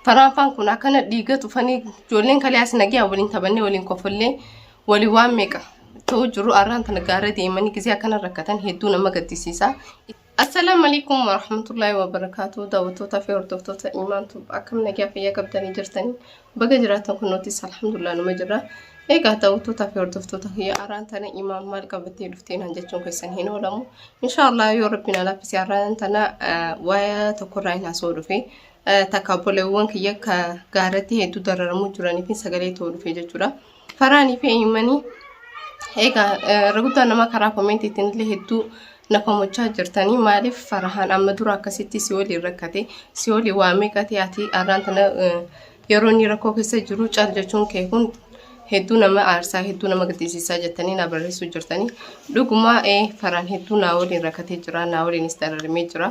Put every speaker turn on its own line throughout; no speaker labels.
Faraanfaan kun akkana dhiiga tufanii ijoolleen kalee as nagiyaa waliin taphannee waliin kofollee walii waan meeqa ta'uu jiru arraan tana gaara deemanii gisee akkana rakkatan hedduu nama gaddisiisa. Assalaamu alaikum warahmatullaahi wabarakaatu daawwattootaa fi hordoftoota imaan tuub akkam nagaa fayyaa qabdanii jirtanii baga jiraatan kun nutis alhamdulillah numa jirra. Egaa daawwattootaa fi hordoftoota kiyya arraan tana imaan maal qabattee dhuftee naan jechuun keessan hin oolamu. Inshaallah yoo rabbiin alaafisee arraan tana waa'ee tokkorraa hin haasoo dhufee takka obboleewwan kiyya ka gaarratti hedduu dararamuu jiranii fi sagalee ta'uu dhufe jechuudha. Faraanii fi eenyummanii egaa irra guddaan nama karaa koomentiitiin illee hedduu na komachaa jirtanii maaliif farahaan amma dura akkasitti si waliin rakkate si waliin waa meeqate ati arraan tana yeroo inni rakkoo keessa jiru cal jechuun kee kun hedduu nama aarsaa hedduu nama gaddisiisaa jettanii na barreessuu jirtanii dhugumaa faraan hedduu naa waliin rakkatee jira naa waliinis dararamee jira.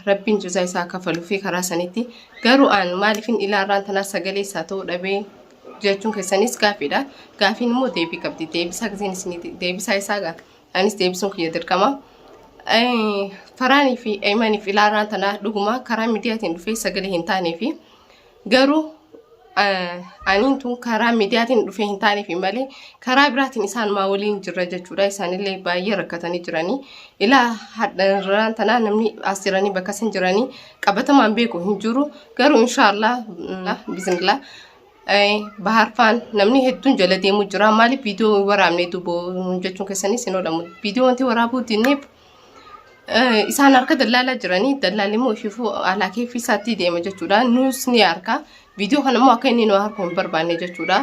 Rabbiin jazaa isaa akka faluufi karaa sanitti garuu aan maaliifin ilaarraan tanaa sagalee isaa ta'uu dhabee jechuun keessanis gaafiidha. Gaafiin immoo deebii qabdi. Deebisaa giseen isiniti deebisaa isaa gaa anis deebisuun kiyya dirqama. Faraanii fi Eeymaniif ilaarraan tanaa dhuguma karaa miidiyaatiin dhufee sagalee hin taanee fi Garuu aniin tun karaa miidiyaatiin dhufee hin taaneef malee karaa biraatiin isaan maa waliin jirra jechuudha. Isaanillee baay'ee rakkatanii jiranii. Ilaa hadharraan tanaa namni as jiranii bakka isin jiranii qabatamaan beeku hin jiru. Garuu inshaallah bizinillah baharfaan namni hedduun jala deemuu jira. Maaliif viidiyoo hin waraabne duboo jechuun keessaniis hin oolamu. Viidiyoo wanti waraabuu dinneef Eh, isaan harka dallaalaa jiranii dallaalli immoo ishifuu alaa keeffii isaatti deema jechuudha nuus ni harka viidiyoo kana immoo akka inni nu harku hin barbaanne jechuudha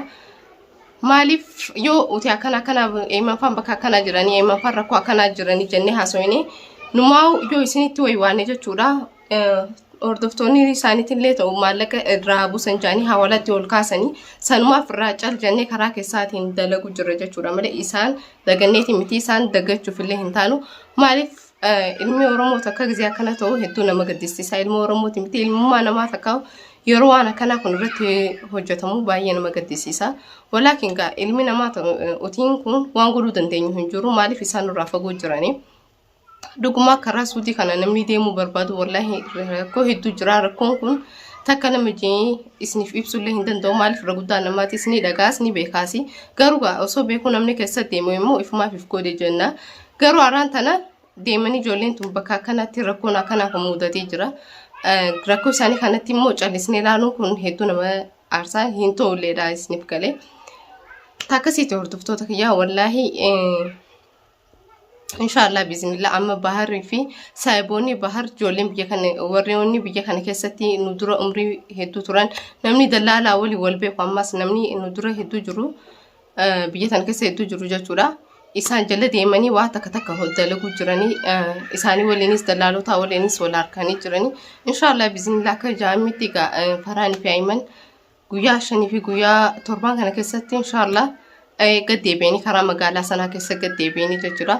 maaliif yoo uti akkana akkana eemaffaan bakka akkanaa jiranii eemaffaan rakkoo akkanaa jiranii jennee haasofne numaa yoo isinitti waywaanne jechuudha hordoftoonni isaaniitillee ta'u maallaqa irraa buusan jedhanii hawalatti ol kaasanii sanumaaf irraa cal jennee karaa keessaatiin dalagu jirra jechuudha malee isaan daganneeti miti isaan dagachuuf illee hin taanu maaliif ilmi oromoo takka gisee akkana ta'u hedduu nama gaddisiisa ilma oromooti miti ilmummaa namaa takka yeroo waan akkanaa kun irratti hojjetamu baay'ee nama gaddisiisa walaakin gaa ilmi namaa utiin kun waan godhuu dandeenyu hin jiru maaliif isaan irraa fagoo jiranii. Dhuguma karaa suutii kana namni deemuu barbaadu wallaahi rakkoo hedduu jira. Rakkoon kun takka nama jee isiniif ibsullee hin danda'u. Maaliif irra guddaa namaatis ni dhagaas ni beekaas. Garuu gaa osoo beekuu namni keessa deemu immoo ifumaaf if godhe jenna. Garuu araan tana deemanii ijoolleen tun bakka akkanatti rakkoon akkanaa kun mudatee jira. Eh, Rakkoo isaanii kanatti immoo callisnee ilaaluun kun hedduu nama aarsaa hin tolleedha isiniif galee. Takkasiitti hordoftoota kiyyaa wallaahi eh, Inshaallah bismillah amma baharri fi saayiboonni bahar ijoolleen biyya kana warreewwanni biyya kana keessatti nu dura umrii hedduu turan namni dallaalaa waliin wal beeku ammas namni nu dura hedduu jiru eh, biyya kana keessa hedduu jiru jechuudha. Isaan jala deemanii waa takka takka hoj- dalaguu jiranii eh, isaanii waliinis dallaalotaa waliinis wal harkanii jiranii inshaallah bismillah akka jaamitti egaa eh, faraan fi ayiman guyyaa shanii fi guyyaa torbaan kana keessatti inshaallah gad deebi'anii karaa magaalaa sanaa keessa gad deebi'anii jechuudha.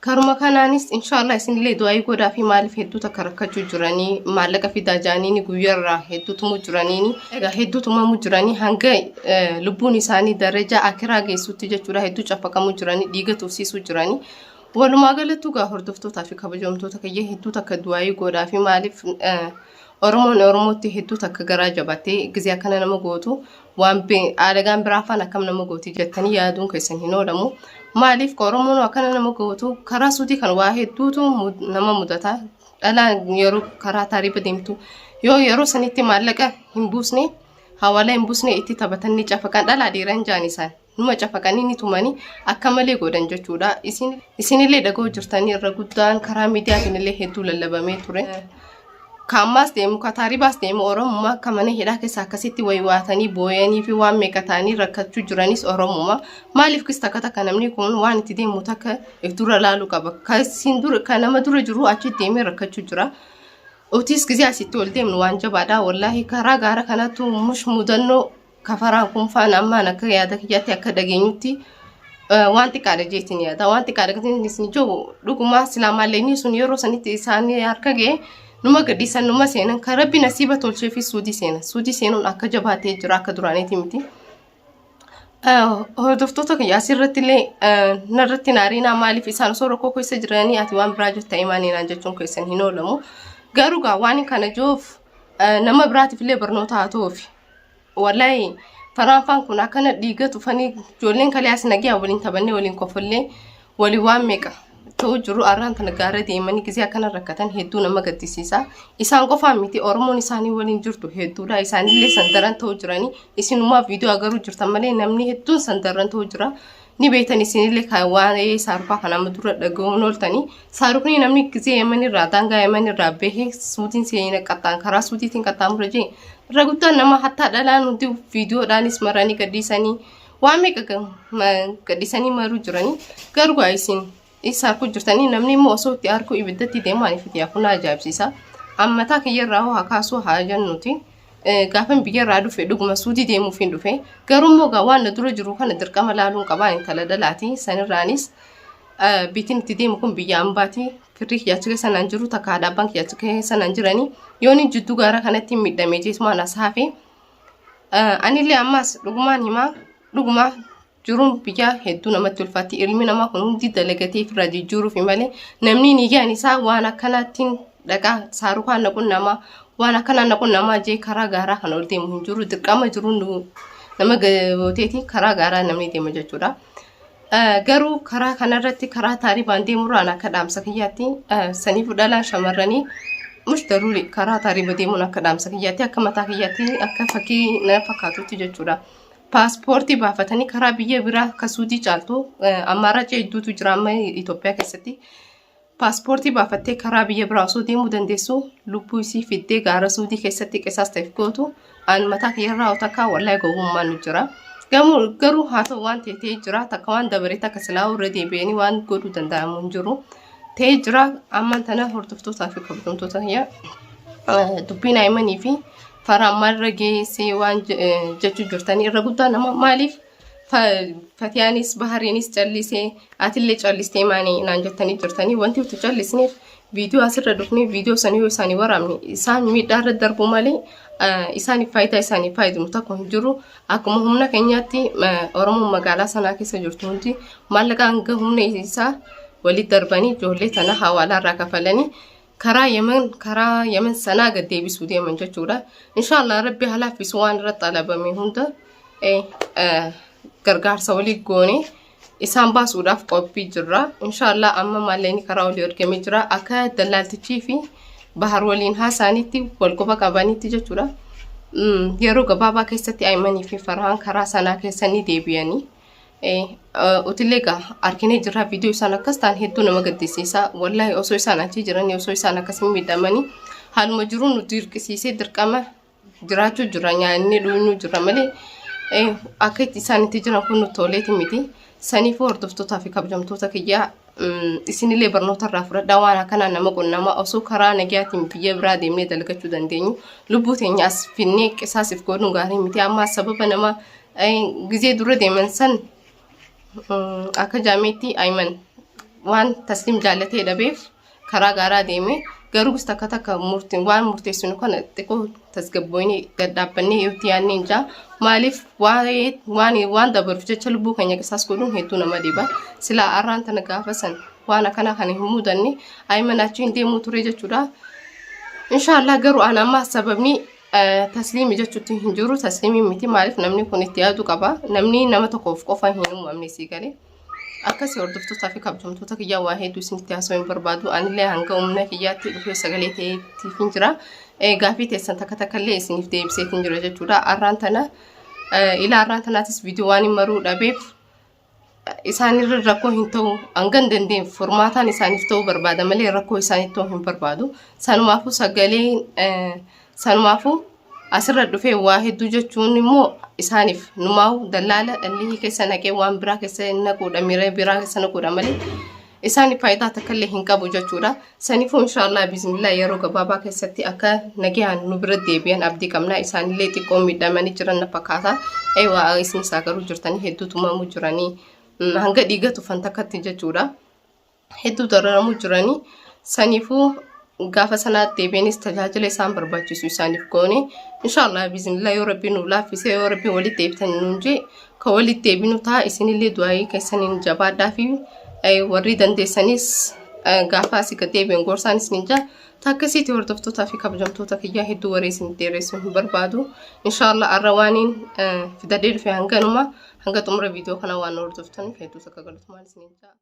Karuma kanaanis inshaallah isinillee du'aayii godhaa fi maaliif hedduu takka rakkachuu jiranii maallaqa fidaa jaaniini guyyaarraa hedduu tumuu jiraniini egaa hedduu tumamuu jiranii hanga lubbuun isaanii darajaa akiraa geessutti jechuudha hedduu caffaqamuu jiranii dhiiga tuufsiisuu jiranii. Walumaa galattuu gaa hordoftootaa fi kabajamtoota kiyya hedduu takka du'aayii godhaa fi maaliif Oromoon Oromootti hedduu takka garaa jabaatti. Gizee akkana nama gootu waan aalagaan biraa faan akkam nama gooti jettanii yaaduun keessan hin oolamu. Maaliif ka Oromoon akkana nama gootu karaa suutii kan waa hedduutu nama mudata. Dhalaan yeroo karaa taariiba deemtu yoo yeroo sanitti maallaqa hin buusne hawaalaa hin buusne itti taphatan ni cafaqan dhalaa dhiiran jaan isaan. numa cafaqanii ni tumanii akka malee godhan jechuudha. Isin isinillee dhaga'uu jirtanii irra guddaan karaa miidiyaatiin illee hedduu lallabamee ture. Kaammaas deemu kataaribaas deemu Oromummaa akka mana hidhaa keessa akkasitti waywaatanii booyanii fi waan meeqa ta'anii rakkachuu jiranis Oromummaa. Maaliif kis takka takka namni kun waan itti deemu takka if dura laaluu qaba. Kasiin dura kan nama dura jiru achi deemee rakkachuu jira. Otis gisee asitti ol deemnu waan jabaadha. Wallaahi karaa gaara kanattu mush mudannoo kafaraan kun faana ammaan akka yaada kiyyaatti akka dhageenyutti eh, waan xiqqaadha jeetiin yaada waan xiqqaadha gatiin isin jiru dhugumaa silaa maalleenii sun yeroo sanitti isaanii harka ga'e numa gadhiisan numa seenan kan rabbi nasiiba tolchee fi suudii seenan suudii seenuun akka jabaatee jira akka duraaniiti miti. Eh, Hordoftoota kiyya asirratti illee eh, narratti naariinaa maaliif isaan osoo rakkoo keessa jiranii ati waan biraa jirta imaaniinaan jechuun keessan hin oolamu. Garuu gaa waan kana jiruuf eh, nama biraatiif illee barnoota haa ta'uufi. Wallahi faraanfaan kun akkana dhiiga tufanii ijoolleen kalee as nagiyaa waliin taphannee waliin kofollee wali waan meeqa ta'uu jiru arraan tana gaara deemanii gisee akkana rakkatan hedduu nama gaddisiisa. Isaan qofaan miti Oromoon isaanii waliin jirtu hedduudha. Isaanillee sandaran ta'uu jiranii isinumaa viidiyoo agaruu jirtan malee namni hedduun sandaran ta'uu jira. ni beektan isinillee kan waa'ee saarufaa kan amma dura dhaga'uun ooltanii saarufni namni gisee yeman irraa daangaa yeman irraa bahee suutiin seena qaxxaan karaa suutiitiin qaxxaamura jee irra guddaan nama hattaa dhalaan hundi viidiyoodhaanis maranii gadhiisanii waan meeqa gadhiisanii maruu jiranii garuu isin Isa harkuu jirtanii namni immoo osoo itti harkuu ibiddatti deemaan ifiti hafu na ajaa'ibsiisa. Ammataa kiyyarraa hoo haa kaasuu haa jennuuti. Gaafan biyyarraa dhufe dhuguma suudii deemuuf hin dhufe. Garuu immoo gaa waan na dura jiru kana dirqama laaluun qabaa intala dhalaati. Sanirraanis biitiin itti deemu kun biyya ambaati. Kirrii kiyya achi keessa naan jiru takka haadha abbaan kiyya achi keessa naan jirani. Yooni jidduu gaara kanatti miidhamee jeetumaan as hafe. Anillee ammas dhugumaan himaa dhuguma jiruun biyyaa hedduu namatti ulfaatti ilmi namaa kun hundi dalagatee ofirraa jijjiiruufi malee namni niyyaan isaa waan akkanaattiin dhaqaa saarukaan naquun namaa waan akkanaa naquun namaa jee karaa gaaraa kan ol deemu hin jiru dirqama jiruun nama gooteeti karaa gaaraa namni deema jechuudha. Garuu karaa kanarratti karaa taaribaan deemurraan akka dhaamsa kiyyaatti saniif dhalaan shamarranii mush daruuri karaa taariba deemuun akka dhaamsa kiyyaatti akka mataa kiyyaatti akka fakkii na fakkaatutti jechuudha. paaspoortii baafatanii karaa biyya biraa akka suudii caaltu ammaarracha hedduutu jira amma Itoophiyaa keessatti paaspoortii baafattee karaa biyya biraa osoo deemuu dandeessu lubbuu isii fiddee gaara suudii keessatti qisaas ta'eef gootu aan mataa kiyyarraa otakaa wallahi gowwummaan nu jira. Gamoo garuu haa ta'u waan ta'e ta'ee jira takka waan dabaree takka silaa irra deebi'anii waan godhuu danda'amu hin jiru. Ta'ee jira ammaan tana hordoftootaa fi kabajamtoota kiyya dubbiin aayimanii fi Farhaan maalirra geessee waan jechuu jirtanii irra guddaan amma maaliif fatiyaanis bahariinis callisee atillee callistee maanii naan jettanii jirtanii wanti nuti callisneef viidiyoo asirra dhufnee viidiyoo sanii yoo isaanii waraabne isaan miidhaa irra darbu malee isaaniif faayidaa isaanii fayyadamu tokko hin jiru akkuma humna keenyaatti oromoon magaalaa sanaa keessa jirtu hundi maallaqa hanga humna isaa walitti darbanii ijoollee tana hawaalaa irraa kafalanii karaa Yemen karaa Yemen sanaa gad deebisuu deeman jechuudha. Inshaallah rabbi haa laaffisu waan irra xalabame hunda eh, eh, gargaarsa walii goone isaan baasuudhaaf qophii jirra. Inshaallah amma maallaqni karaa olii ergamee jira akka dallaaltichii fi bahar waliin haasaanitti wal quba qabanitti jechuudha. Mm, Yeroo gabaabaa keessatti Ayimanii fi Farhaan karaa sanaa keessa ni deebi'anii. Utilee egaa arginee jirra viidiyoo isaan akkas ta'an hedduu nama gaddisiisa. Wallaahi osoo isaan achi jiranii osoo isaan akkasii miidhamanii haaluma jiruu nu dirqisiisee dirqama jiraachuu jirra nyaannee dhuunuu jirra malee akka itti isaan itti jiran kun nutti toleeti miti. Saniifuu hordoftootaa fi kabajamtoota kiyyaa isinillee barnoota irraa fudhadhaa waan akkanaa nama qunnamaa osoo karaa nagayaatiin biyya biraa deemnee dalagachuu dandeenyu lubbuu teenya as finnee qisaasiif godhuun gaarii miti amma sababa nama Gizee dura deeman san akka jaameetti Ayiman waan tasliim jaallatee dhabeef karaa gaaraa deeme garuu takka takka waan murteessinu kana xiqqoo tasgabbooyinee gadhaabbannee yoo itti yaadnee jaa maaliif waan dabaruuf jecha lubbuu keenya qisaas godhuun hedduu nama dhiba silaa arraan tana gaafa san waan akkanaa kana hin mudanne Ayiman achiin deemuu ture jechuudha. Inshaallah garuu an amma sababni Tasliimi jechuutti hin jiru tasliimi miti maaliif namni kun itti yaadu qaba namni nama tokkoof qofa hin uumamne sii gale akkasii hordoftootaa fi kabajamtoota kiyyaa waa hedduu isinitti haasoo hin barbaadu anillee hanga humna kiyyaatti dhufee sagalee ta'eetiif hin jira gaafii teessan takka takka illee isiniif deebiseet hin jira jechuudha arraan tana ilaa arraan tanaatis viidiyoo waan hin maruu dhabeef isaanirra rakkoo hin ta'u hangan dandeenye furmaataan isaaniif ta'uu barbaada malee rakkoo isaaniif ta'uu hin barbaadu. Sanumaafuu sagaleen eh, sanumaafuu asirra dhufee waa hedduu jechuun immoo isaaniif numaa'u dallaala dhalli keessa naqee waan biraa keessa hin naquudha miira biraa keessa naquudha malee Isaan faayidaa takka illee hin qabu jechuudha. Saniifuu inshaallah bismillah yeroo gabaabaa keessatti akka nagaan nu bira deebi'an abdii qabna. Isaanillee xiqqoo miidhamanii jiran na fakkaata. Eewaa isin isaa garuu jirtanii hedduu tumamuu jiranii mm, hanga dhiiga tufan takkatti jechuudha. Hedduu dararamuu jiranii. Saniifuu gaafa sanaatti deebiinis tajaajila isaan barbaachisu isaaniif goone inshaallah biiznillah yoo rabbiin nu laaffisee yoo rabbiin walitti deebitan nuun jee ka walitti deebinu ta'a isinillee du'aayii keessaniin jabaadhaa fi warri dandeessanis gaafa asii gad deebiin gorsaan isiniin jaa takkasiitti hordoftootaa fi kabajamtoota kiyyaa hedduu waree isin dheeressuun hin barbaadu inshaallah arra waaniin fidadee dhufe hanganuma hanga xumura viidiyoo kana waan hordoftaniif hedduu sakka galatoomaa isiniin jaa.